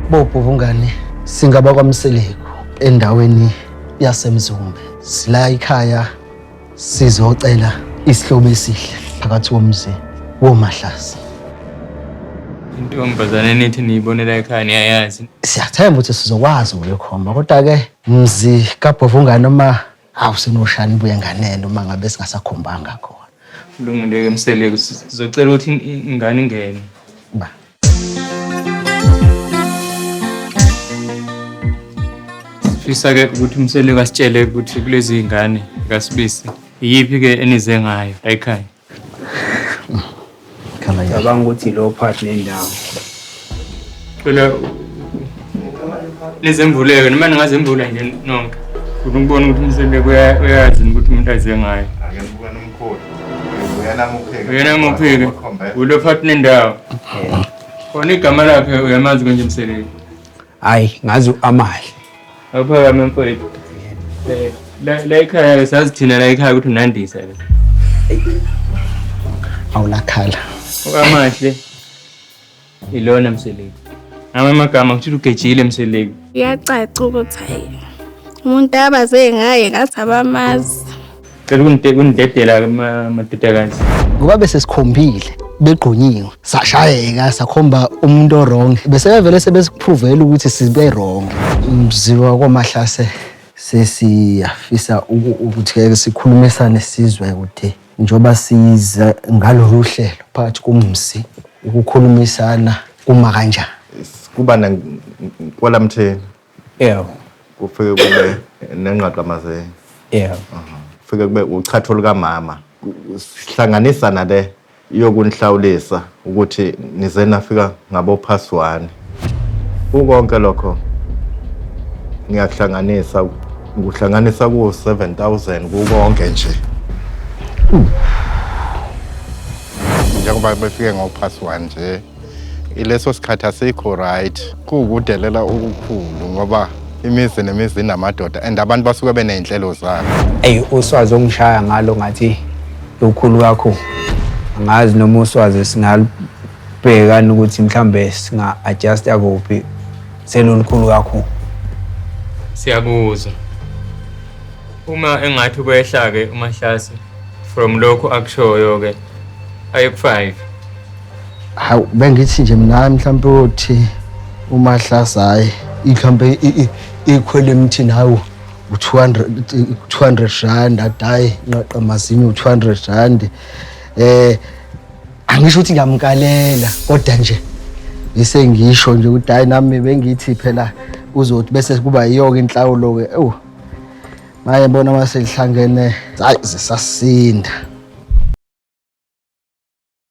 Bopho bungani singaba kwaMseleku endaweni yaseMzumbe. Sila ikhaya sizocela isihlobo esihle phakathi komzi woMahlasi. Intombazane nithi niyibonela ekhaya niyayazi. Siyathemba ukuthi sizokwazi ukuyokhomba kodwa-ke mzi kabhovungane uma Awu sinoshani buye nganeno uma ngabe singasakhombanga khona. Kulungile ke Mseleku sizocela ukuthi ingane ingene. Ba. Sifisa ke ukuthi Mseleku asitshele ukuthi kulezi ngane kaSibisi iyiphi ke enize ngayo ekhaya. Cabanga ukuthi lo part nendawo. Cela lezemvuleke noma ningazemvula nje nonke. Ufuna ukubona ukuthi umsebenzi uyazi ukuthi umuntu aze ngayo. Ake ngibukane umkhulu. Uyena mupheke. Uyena mupheke. Ulo part nendawo. Khona igama lakhe uyamazi konje msebenzi. Hayi ngazi u-Amahle. Awuphakame mfowethu. Eh, la- La ekhaya sazi thina la ekhaya ukuthi unandisa ke. Awulakhala. Amahle. Ilona mseleki. Ngamanye amagama kuthi ugejile mseleki. Kuyacaca ukuthi hayi umuntu abaze ngaye ngathi abamazi. Cela ukunide- ukunidedela ke ma- madodakazi. ngoba bese sikhombile begqunyiwe sashayeka sakhomba umuntu orong bese bevele sebesiphuvela ukuthi sibe wrong mziwa kwamahlase sesiyafisa uku- ukuthi ke sikhulumisane sizwe ukuthi njengoba size ngalolu hlelo phakathi komzi ukukhulumisana kuma kanjani kuba na- nkwalamtheni Yeah. Kufike kube nengqaqamazeni. Yeah. Kufike kube uchatho lukamama. Sihlanganisa nale yokunihlawulisa ukuthi nize nafika ngabophaswani. Kukonke lokho ngiyakuhlanganisa ngikuhlanganisa ku 7000 kukonke nje. Njengoba befike ngophaswani nje ileso sikhathi asikho right kuwukudelela ukukhulu ngoba imizi nemizi inamadoda and abantu basuke beney'nhlelo zabo eyi uswazi ongishaya ngalo ngathi lukhulu kakhulu angazi noma uswazi singalubhekani ukuthi mhlawumbe singa-adjusta kuphi selulukhulu kakhulu siyakuzwa uma engathi kwehla-ke umahlase from lokhu akushoyo-ke ayekufive hawu bengithi nje mina mhlawumbe uthi umahlasa hayi mhlawumbe ikhwela emthini hawu u-200 rand adayi nqaqa mazinyo u-200 rand eh angisho ukuthi ngiyamkalela kodwa nje ngise ngisho nje ukuthi hayi nami bengithi phela uzothi bese kuba yiyo-ke inhlawulo-ke ewu maye bona uma selihlangene hayi zisasinda